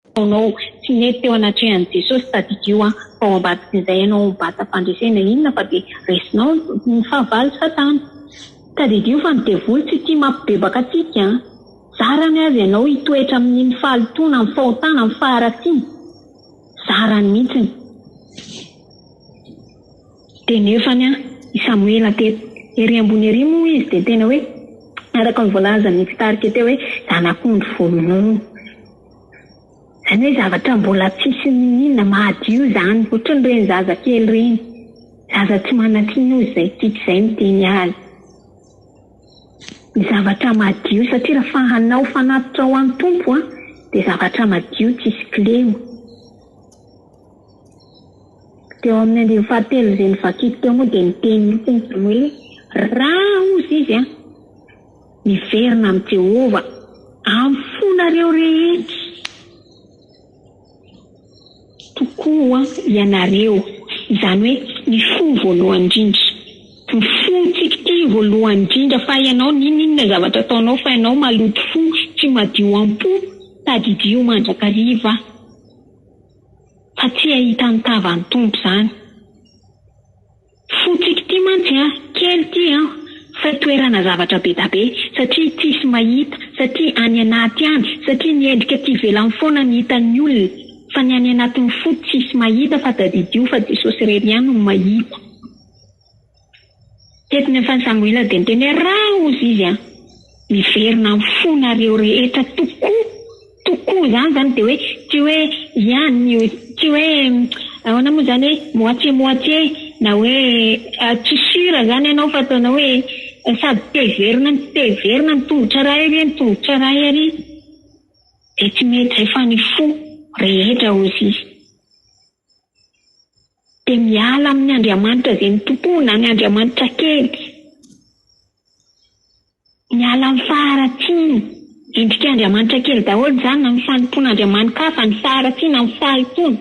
Ataonao tsy nety teo anatrehan'i Jesosy tadidio an! fa ao ambadikin'izay ianao mibata fandresena inona fa dia resinao ny fahavalo satana! Tadidio fa ny devoly tsy tia mampibebaka antsika an! zarany aza ianao hitoetra amin'iny fahalotoana amin'ny fahotana amin'ny faharatsiana! zarany mihitsiny! Dia nefany an! i Samoela teto ery ambony ery moa izy dia tena hoe araka ny voalazan'ny mpitarika teo hoe zanak'ondry vonono! Zany hoe zavatra mbola tsisy niniana mahadio zany, otrany reny zaza kely reny, zaza tsy manatsiny ozy zay tiky zay miteny azy ny zavatra madio satria rafa hanao fanatitra ho any Tompo a de zavatra madio tsisy kilema. Teo aminy andiny fahatelo ze nivakiko teo moa de niteny mitsiny zany hoe ra ozy izy a. Miverina amin'i Jehovah amin'ny fonareo rehetra tokoa ianareo, izany hoe ny fo voalohany indrindra, ny fontsika ity voalohany indrindra, fa ianao, n'inon'inona zavatra ataonao, fa ianao maloto fo, tsy madio am-po, tadidio mandrakariva fa tsy hahita ny tavan'ny Tompo izany. Fotsiko ty mantsy an! Kely ty an! Fa toerana zavatra bedabe, satria tsisy mahita, satria any anaty any, satria ny endrika tsy ivelany foana ny hitan'ny olona, fa ny any anatin'ny fo tsisy mahita fa tadidio fa Jesosy irery ihany no mahita. Teto ny afany Samoela dia niteny hoe, Raha hozy izy an! miverina amin'ny fonareo rehetra tokoa! Tokoa izany izany dia hoe tsy hoe ihany io tsy hoe ahoana moa izany hoe moitié moitié na hoe tsy sûr izany ianao fa ataonao hoe sady te hiverina no tsy te hiverina ny tongotra iray ary ny tongotra iray ary dia tsy mety izay fa ny fo rehetra hozy izy dia miala amin'ny Andriamanitra izay mitompoa na ny Andriamanitra kely. Miala amin'ny faharatsiana. Endrika andriamanitra kely daholo izany na ny fanompoana andriamani-kafa, ny faharatsiana, ny fahitona,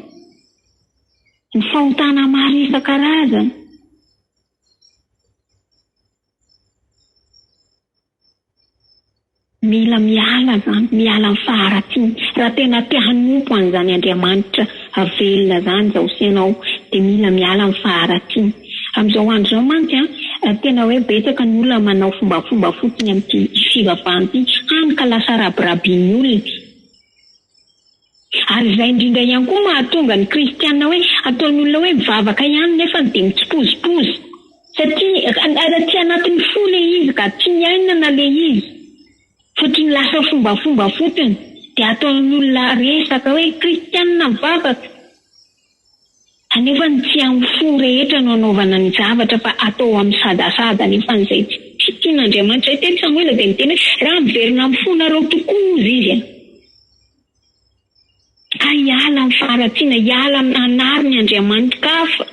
ny fahotana maro isan-karazany. Mila miala izany, miala amin'ny faharatsiana raha tena te hanompo an'izany andriamanitra Avelona zany zao sy ianao de mila miala am faharatsiny. Amzao andro zao mantsy a tena hoe betsaka ny olona manao fombafomba fotsiny amty fivavahany ty hany ka lasa rabirabiny olona. Ary izay indrindra ihany koa mahatonga ny kristiana hoe ataony olona hoe mivavaka ihany nefany de mitsipozipozy. Satria tsy anatin'ny fo le izy ka, tsy miaina na le izy. Fotony lasa fombafomba fotony dia ataon'ny olona resaka hoe kristianina mivavaka anefa ny tsy amin'ny fo rehetra no anaovana ny zavatra fa atao amin'ny sadasada anefa izay tsy tsy tian'Andriamanitra izay teny samoela dia niteny hoe raha miverina amin'ny fonareo tokoa hozy izy a ka hiala amin'ny faharatsiana hiala amin'ny hanary ny andriamanitrkafa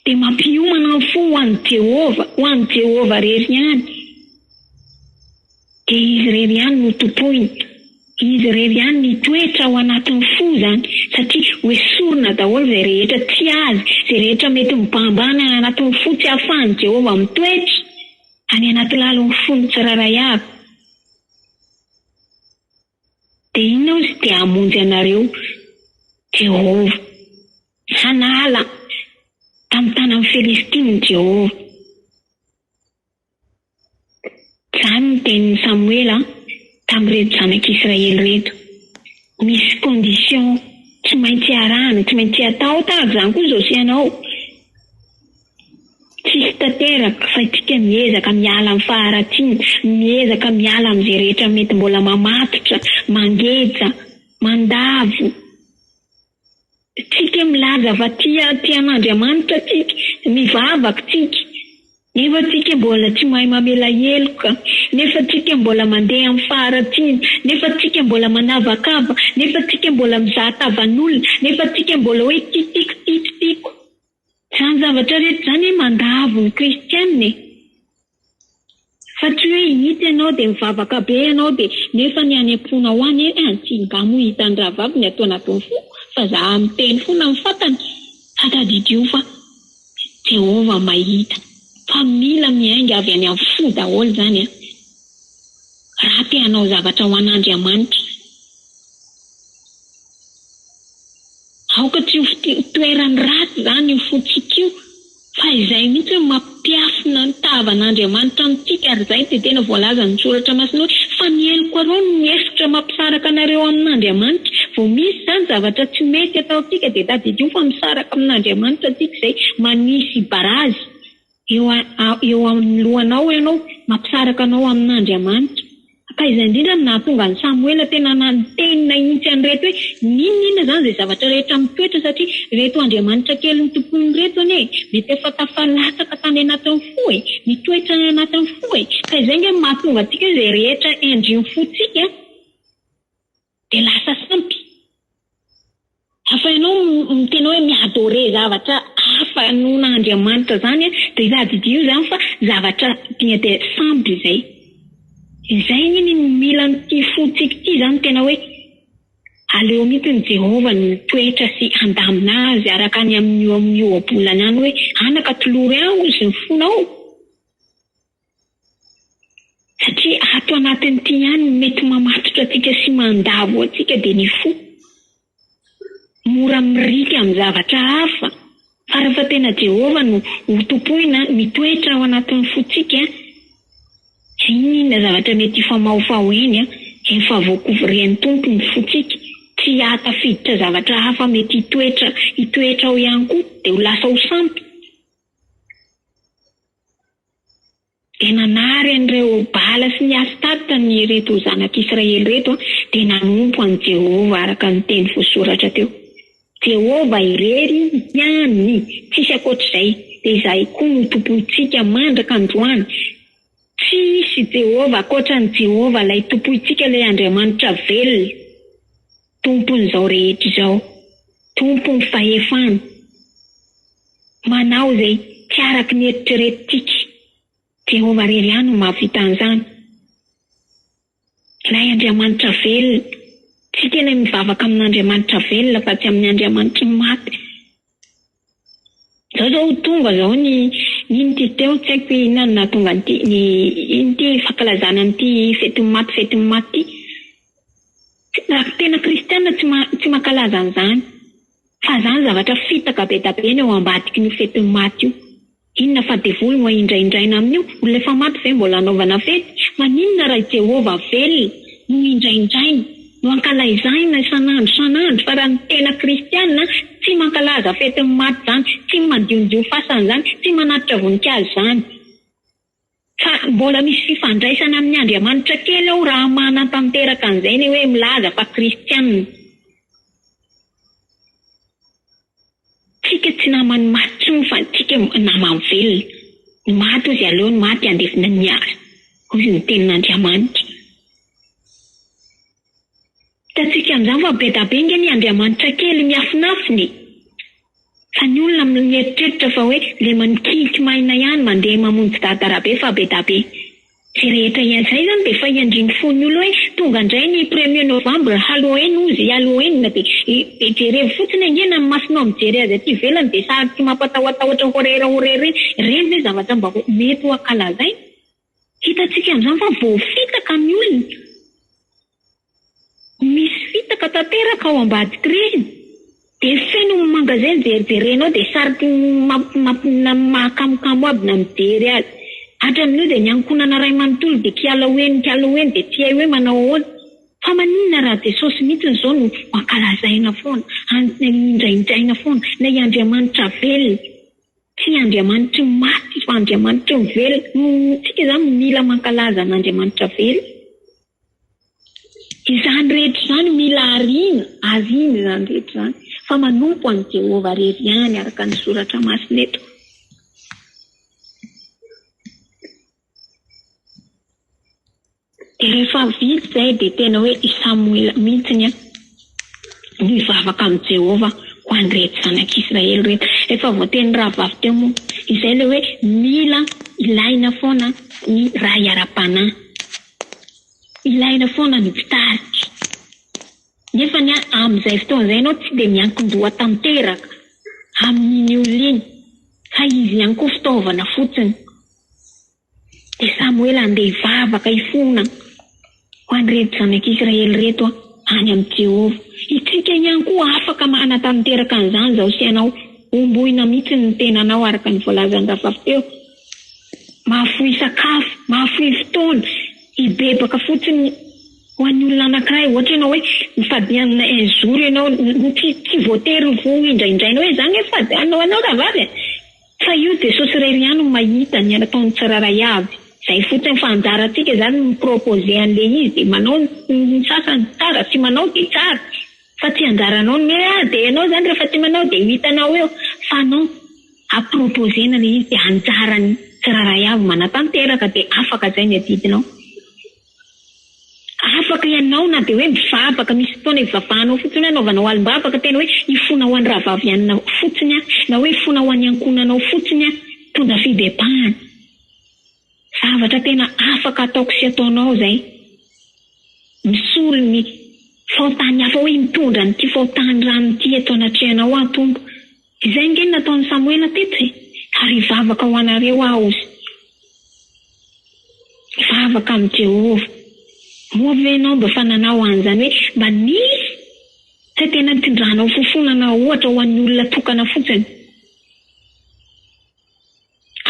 dia mampiomana ny fo ho an'i Jehovah, ho an'i Jehovah irery ihany, dia izy irery ihany no tompoina, izy irery ihany no hitoetra ao anatin'ny fo izany, satria hoesorina daholo izay rehetra tsy azy, izay rehetra mety mibahambà any anatin'ny fo tsy ahafahan'i Jehovah mitoetra any anaty lalin'ny fon'ny tsirairay avy. Dia inona aho tsy dia hamonjy anareo, Jehovah? Hanala tamin'ny tanan'ny Filistina i Jehovah. Izany no tenin'i Samoela tamin'ireto zanak'Israely ireto. Misy condition tsy maintsy arahana, tsy maintsy atao, tahaka izany koa izao sy ianao. Tsisy tanteraka fa isika miezaka miala amin'ny faharatsiana, miezaka miala amin'izay rehetra mety mbola mamatotra, mangeja, mandavo. Tsika milaza fa tia tia an'Andriamanitra tsika, mivavaka tsika, nefa tsika mbola tsy mahay mamela heloka, nefa tsika mbola mandeha amin'ny faharatsiana, nefa tsika mbola manavakava, nefa tsika mbola mizaha tavan'olona, nefa tsika mbola hoe ty tiko, tiko, tiko. Izany zavatra rehetra izany mandavo ny kristiana e! Fa tsy hoe hita ianao dia mivavaka be ianao dia nefa ny any am-ponao any ee any tsy ngah moa hitan'ny rahavavy ny ato anatin'ny foko fa za miteny foana ny fantany fa tadidio fa Jehovah mahita fa mila miainga avy any amin'ny fo daholo izany an! Raha te hanao zavatra ho an'Andriamanitra. Aoka tsy ho toeran'ny ratsy izany io fontsika io fa izay mihitsy no mampiafina ny tavan'Andriamanitra amintsika ary izay dia tena voalazan'ny Soratra Masina hoe, Fa ny heloko aloha no mihevitra mampisaraka anareo amin'Andriamanitra. Vao misy izany zavatra tsy mety ataontsika dia tadidio fa misaraka amin'Andriamanitra antsika izay manisy barazy. eo amin'ny lohanao ianao, mampisaraka anao amin'Andriamanitra. Ka izay indrindra no nahatonga an'i Samoela tena nanoteny nahintsy an'ireto hoe, N'inon'inona izany izay zavatra rehetra mitoetra, satria ireto andriamanitra kelin'ny tompoiny ireto anie mety efa tafalatsaka tany anatin'ny fo e! Mitoetra any anatin'ny fo e! Ka izay ange no mahatonga antsika hoe izay rehetra endrin'ny fontsika, Dia lasa sampy. Hafa ianao miteny hoe mi-adorer zavatra hafa noho Andriamanitra izany an, dia tadidio izany fa zavatra dia dia sampy izay. Izay anie ny mila an'ity fontsika ity izany tena hoe aleo mihitsy ny Jehovah no mitoetra sy handamina azy araka ny amin'io amin'ny ohabolana any hoe anaka tolory aho sy ny fonao. Satria ato anatin'ity ihany no mety mamatotra antsika sy mandavo antsika dia ny fo. Mora mirika amin'ny zavatra hafa, fa rehefa tena Jehovah no hotompoina mitoetra ao anatin'ny fontsika, dia inon'inona zavatra mety hifamahofaho eny, efa voakovirian'ny Tompo ny fontsika, tsy hahatafiditra zavatra hafa mety hitoetra hitoetra ao ihany koa, dia ho lasa ho sampy. Dia nanary an'ireo Bala sy ny Astarte ny ireto zanak'Israely ireto, dia nanompo an'i Jehovah araka ny teny voasoratra teo. Jehovah irery ihany, tsisy ankoatr'izay, dia izay koa no Tompontsika mandraka androany. Tsy hisy Jehovah ankoatran'i Jehovah ilay Tompointsika, ilay Andriamanitra velona. Tompon'izao rehetra izao, Tompon'ny fahefana, manao izay tsy araka ny eritreretintsika. Jehovah irery ihany no mahavita an'izany. Ilay Andriamanitra velona. Isika ilay mivavaka amin'Andriamanitra velona fa tsy amin'ny andriamanitry ny maty. Zao zao ho tonga zao ny ino ty teo tsy haiko inona no nahatonga an'ity ny ino ty fankalazana an'ity fetin'ny maty fetin'ny maty ty raha tena kristiana tsy tsy mankalaza an'izany fa zany zavatra fitaka be da be ny ao ambadikin'io fetin'ny maty io. Inona fa devoly no ahindrahindraina amin'io? Olona efa maty ve mbola hanaovana fety? Maninona raha i Jehovah velona no hindraindraina, no ankalaizahina isan'andro isan'andro, fa raha ny tena Kristianina tsy mankalaza fetin'ny maty izany, tsy mandiondio fasana izany, tsy manatitra voninkazo izany? Fa mbola misy fifandraisana amin'ny Andriamanitra kely ao raha manatanteraka an'izay ny hoe milaza fa kristiana. Tsika tsy naman'ny maty tsony fa tsika naman'ny velona. Ny maty hozy aleo ny maty handefina ny azy, hozy ny tenin'Andriamanitra. Hitantsika an'izany fa be da be ange ny Andriamanitra kely miafinafina e! Fa ny olona mieritreritra fa hoe le manikiky maina ihany mandeha mamonjy dada Rabe fa be da be. Zay rehetra iazay zany dia efa iandrin'ny fon'ny olona hoe tonga indray ny premier novembre, Halloween ozy, Halloween dia jerevo fotsiny ange na ny masonao mijery azy aty ivelany dia sary tsy mampatahotahotr horera horera iny, ireny ve zavatra mba mety ho ankalazaina? Hitantsika amin'izany fa voafitaka ny olona. Misy fitaka tanteraka ao ambadiky reny. Dia feno ny magasin jerijerenao dia sarotra mahakamokamo aby na mijery azy. Hatramin'io dia ny ankonana ray manontolo dia kialao eny kialao eny dia tsy hay hoe manao ahoana. Fa maninona raha Jesosy mihitsiny izao no ankalazaina foana, indraindraina foana, ilay Andriamanitra velona. Tsy Andriamanitry ny maty fa Andriamanitry ny velona. Isika izany mila mankalaza an'Andriamanitra velona. Izany rehetra izany mila ariana, ariana izany rehetra izany fa manompo an'i Jehovah irery ihany araka ny Soratra Masina eto. Dia rehefa vita izay dia tena hoe i Samoela mihitsy nivavaka amin'i Jehovah ho an'ireto zanak'i Israely ireto. Efa voatenin'ny rahavavy teo moa izay ilay hoe mila ilaina foana ny ray ara-panahy. Ilaina foana ny mpitarika. Nefa amin'izay fotoana izay ianao tsy dia miankin-doha tanteraka amin'iny olona iny fa izy ihany koa fitaovana fotsiny. Dia Samoela handeha hivavaka hifona ho an'ireto zanak'Israely ireto any amin'i Jehovah. Isika ihany koa afaka manatanteraka an'izany izao sy ianao. Hombohina mihitsy ny tenanao araka ny voalazan'i Rafafy teo. Mahafoy sakafo, mahafoy fotoana, hibebaka fotsiny ho an'ny olona anankiray. Ohatra ianao hoe mifady hanana un jour ianao, tsy voatery ho indraindraina hoe izaho ange mifady hanana ho anao rahavavy e. Fa io Jesosy irery ihany no mahita ny ataon'ny tsirairay avy. Zay fotsiny fa anjarantsika zany ny mi-proposer an'le izy de manao ny sasany tsara tsy manao de tsara fa tsy anjaranao ny hoe ah de ianao zany rehefa tsy manao de ho hitanao eo fa non a proposer-na le izy de anjaran'ny tsirairay avy manatanteraka de afaka zay ny adidinao. Afaka ianao na dia hoe mivavaka, misy fotoana ivavahanao fotsiny hoe anaovanao alim-bavaka tena hoe hifona ho an'i Rahavavy Anna fotsiny aho na hoe hifona ho an'ny ankohonanao fotsiny aho, mitondra fibebahana. Zavatra tena afaka ataoko sy ataonao izay. Misolo ny fahotan'ny hafa hoe mitondra an'ity fahotan'ny rano ity eto anatrehanao aho Tompo. Izay ange no nataon'i Samoela teto e! Ary hivavaka ho anareo aho sy hivavaka amin'i Jehovah. Moa ve ianao mba efa nanao an'izany hoe mba nisy izay tena nitondranao fofona na ohatra ho an'ny olona tokana fotsiny?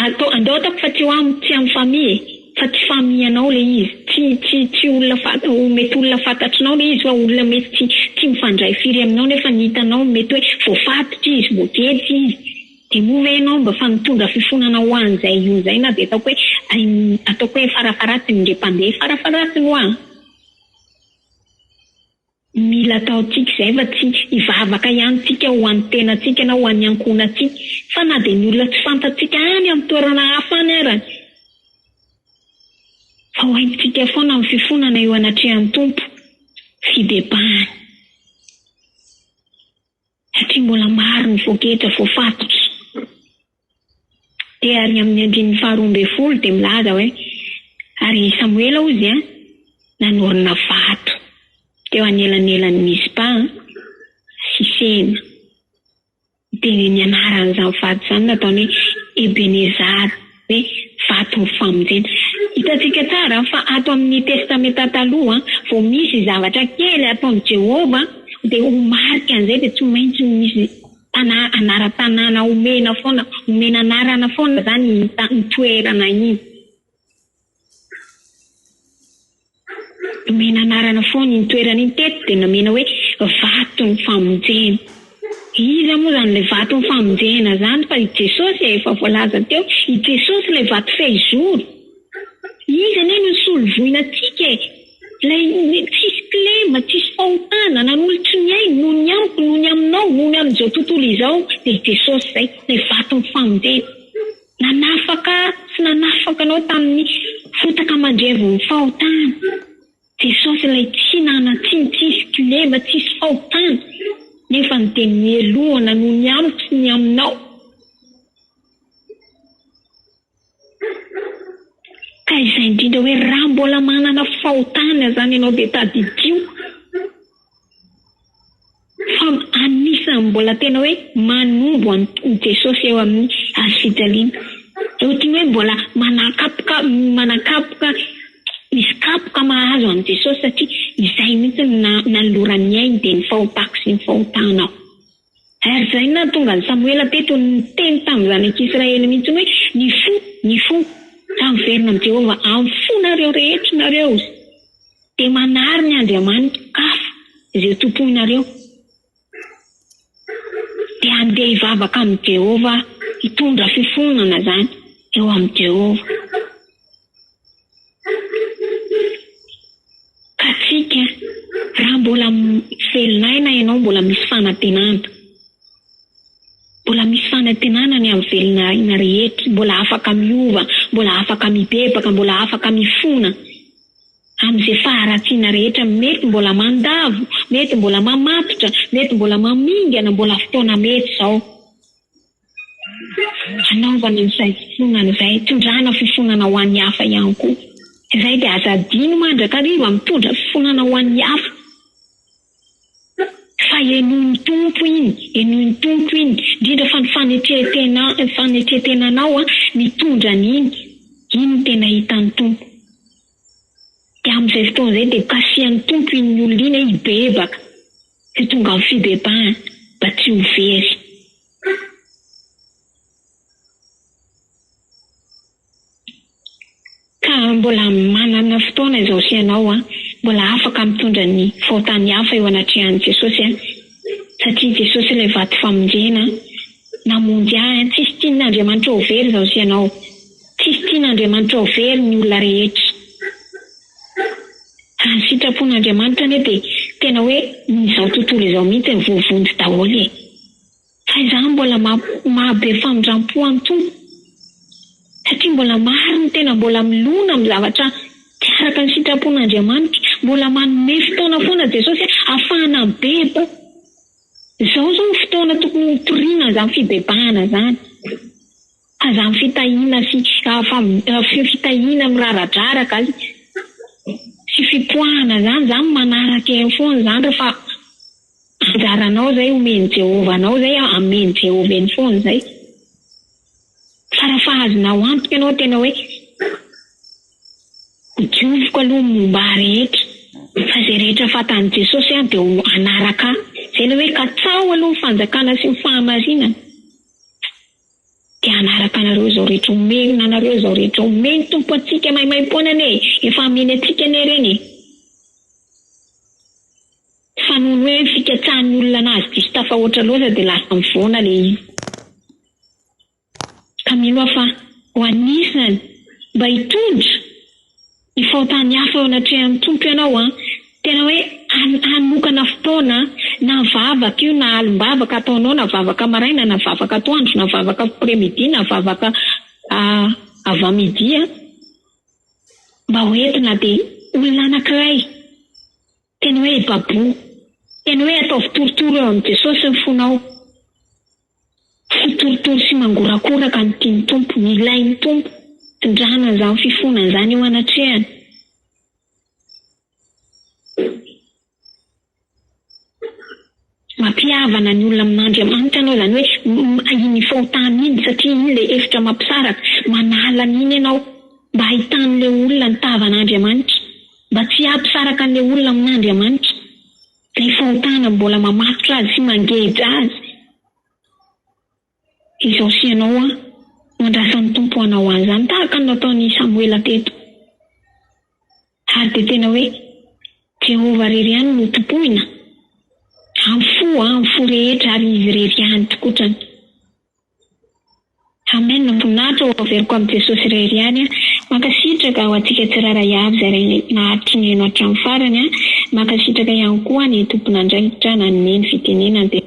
Atao andao ataoko fa tsy ho am tsy am famille e! Fa tsy famille anao le izy, tsy tsy tsy olona fanta ho mety olona fantatrinao le izy fa olona mety tsy tsy mifandray firy aminao nefa ny hitanao mety hoe voafatotra izy, voagejy izy de moa ve enao mba fa mitondra fifonana ho an zay io zay na de ataoko hoe aim ataoko hoe farafaratsiny ndre mpandeha farafaratsiny hoa. Mila ataontsika izay fa tsy hivavaka ihany tsika ho an'ny tenantsika na ho an'ny ankohonantsika fa na dia ny olona tsy fantatsika any amin'ny toerana hafa any ara fa ho haintsika foana amin'ny fifonana eo anatrehan'ny Tompo fibebahany. satria mbola maro ny voageja voafatotra. Dia ary amin'ny andininy faharoa ambin'ny folo dia milaza hoe, Ary i Samoela, hoy Izy, nanorina vato teo anelanelan'i Mizpa sy Sena. Dia ny anaran'izany vato izany nataony hoe Ebenezara. ny vaton'ny famonjena. Hitantsika tsara fa ato amin'ny Testamenta Taloha, vao misy zavatra kely ataon'i Jehovah, dia ho marika an'izay dia tsy maintsy misy tanà, anaran-tanàna omena foana, omena anarana foana izany iny toerana iny. Nomena anarana foana iny toerana iny teto dia nomena hoe vaton'ny famonjena. Iza moa izany ilay vaton'ny famonjena izany fa i Jesosy e, efa voalaza teo, i Jesosy ilay vato fehizoro. Izy anie no nisolo voina antsika e, ilay tsisy kilema, tsisy fahotana, nanolotry ny ainy noho ny amiko, noho ny aminao, noho ny amin'izao tontolo izao dia i Jesosy izay, ilay vaton'ny famonjena. Nanafaka sy nanafaka anao tamin'ny fotaka mandrevin'ny fahotana. Jesosy ilay tsy nanan-tsiny, tsisy kilema, tsisy fahotana, nefa ny dia nohelohana noho ny amiko sy ny aminao. Ka izay indrindra hoe raha mbola manana fahotana izany ianao dia tadidio. Fa anisan'ny mbola tena hoe manombo an'i Jesosy eo amin'ny hazo fijaliana. Ohatry ny hoe mbola manakapoka manakapoka hisy kapoka mahazo an'i Jesosy satria izay mihitsy no nanoloran'ny ainy dia ny fahotako sy ny fahotanao. Ary izay no nahatonga an'i Samoela teto niteny tamin'izany ankizy Israely mihitsy hoe, Ny fo, ny fo. Ka miverina amin'i Jehovah amin'ny fonareo rehetra ianareo, dia manary ny andriamanitra hafa izay tompoinareo, dia handeha hivavaka amin'i Jehovah, hitondra fifonana izany eo amin'i Jehovah. Katsika, raha mbola velona aina ianao mbola misy fanantenana. Mbola misy fanantenana ny amin'ny velona aina rehetra, mbola afaka miova, mbola afaka mibebaka, mbola afaka mifona amin'izay faharatsiana rehetra mety mbola mandavo, mety mbola mamatotra, mety mbola mamingana, mbola fotoana mety izao. Hanaovana izay fofona izay hitondrana fifonana ho an'ny hafa ihany koa izay dia aza adino mandrakariva mitondra fifonana ho an'ny hafa fa henoin'ny Tompo iny henoin'ny Tompo iny indrindra fa ny fanetren-tena fanetren-tenanao mitondra an'iny iny no tena hitan'ny Tompo. Dia amin'izay fotoana izay dia kasihan'ny Tompo iny olona iny hoe hibebaka sy tonga amin'ny fibebahana mba tsy ho very. Ka mbola manana fotoana izao sy ianao an, mbola afaka mitondra ny faotan'ny hafa eo anatrehan'i Jesosy an, satria Jesosy ilay vato famonjena namonjy ahy an, tsisy tian'Andriamanitra ho very izao sy ianao. Tsisy tian' Andriamanitra ho very ny olona rehetra. Raha ny sitrapon' Andriamanitra anie dia tena hoe ny izao tontolo izao mihitsy no voavonjy daholo e! Fa izaho mbola maha be famindrampo an' Tompo satria mbola maro ny tena mbola milona amin'ny zavatra tsy araka ny sitrapon' Andriamanitra. Mbola manome fotoana foana Jesosy hoe afahana mibebaka. Izao izao ny fotoana tokony ho toriana izany fibebahana izany. Aza am fitahiana sy feo fitahiana miraradraraka azy sy fipoahana zany zany manaraka eo foana zany re fa anjaranao zay omen'i Jehovah anao zay amen'i Jehovah eny foana zay fa raha fa azonao antoka ianao tena hoe dioviko aloha ny momba ahy rehetra fa zay rehetra fatan'i Jesosy aho dia hanaraka ahy zay le hoe katsaho aloha ny fanjakana sy ny fahamarinana Te hanaraka anareo izao rehetra omenina anareo izao rehetra omeny Tompo antsika maimaimpoana anie e! Efa ameny antsika anie ireny e! Fa noho ny hoe fikatsahan'ny olona anazy diso tafahoatra loatra dia lasa mivoana ilay izy. Ka mino aho fa ho anisany mba hitondra. Hifaontany hafa eo anatrehan'ny Tompo ianao an! Tena hoe hanokana fotoana na vavaka io na alim-bavaka ataonao na vavaka maraina na vavaka atoandro na vavaka après-midi na vavaka avant midi an! Mba ho entina dia olona anankiray Teny hoe ibaboho. Teny hoe ataovy torotoro eo amin'i Jesosy ny fonao. Tsy torotoro sy mangorakoraka no tian'ny Tompo. Ilain'ny Tompo. Tondrahana an'izany fifonana izany eo anatrehany. Mampihavana ny olona amin'Andriamanitra ianao, izany hoe iny fahotana iny, satria iny ilay efitra mampisaraka. Manala an'iny ianao, mba hahitan'ilay olona ny tavan'Andriamanitra, mba tsy hampisaraka an'ilay olona amin'Andriamanitra ilay fahotana mbola mamatotra azy sy mangeja azy. Izao sy ianao hoa, no andrasan'ny Tompo ho anao azy izany, tahaka ny nataon'i Samoela teto. Ary dia tena hoe, Jehovah irery ihany no tompoina, amin'ny fo, amin'ny fo rehetra, ary Izy irery ihany tokotrany. Amen, voninahitra ho averiko amin'i Jesosy irery ihany an! Mankasitraka ho antsika tsirairay avy izay nahatry ny heno hatramin'ny farany an! Mankasitraka ihany koa ny tompon'andraikitra. Raha nanome ny fitenenany dia.